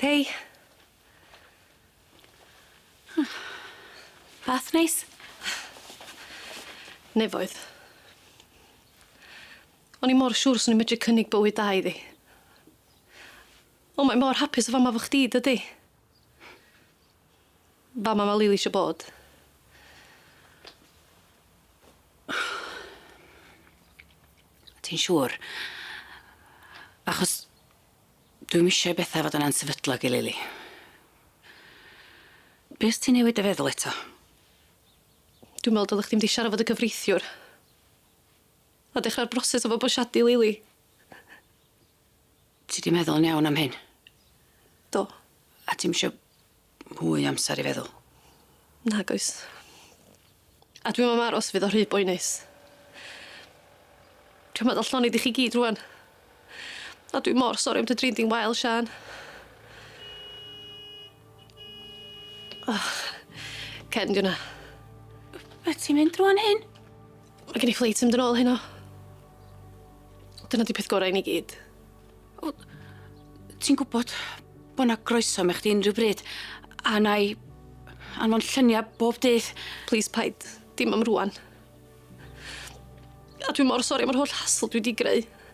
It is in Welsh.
Hei. Hmm. Bath neis? Nefoedd. O'n i mor siŵr swn i'n medru cynnig bywyd da iddi. O mae mor hapus y fama efo chdi dydi? Fama ma Lili isio bod. Ti'n siŵr? Achos dwi'm isio i betha fod yn ansefydlog i Lili. Be' os ti newid dy feddwl eto? Dwi'n me'wl dyle chdi mynd i siarad fo dy cyfreithiwr. A dechra'r broses o fabwysiadu Lili. Ti 'di meddwl yn iawn am hyn? Do. A ti'm isio mwy o amsar i feddwl? Nag oes. A dwi'm am aros fydd o rhy boenus. Dwi am adal llonydd i chi gyd rŵan. A dwi mor sori am dy drin di'n wael, Siân. Oh, Ken, di wnna. Be' ti'n mynd rŵan, Hyn? Mae gen i ffleit i fynd yn ôl heno. Dyna di peth gorau i ni gyd. O, ti'n gwybod bod na groeso me chdi unrhyw bryd, a na i anfon lluniau bob dydd. Plis paid, dim am rwan. A dwi mor sori am yr holl hassle dwi di greu.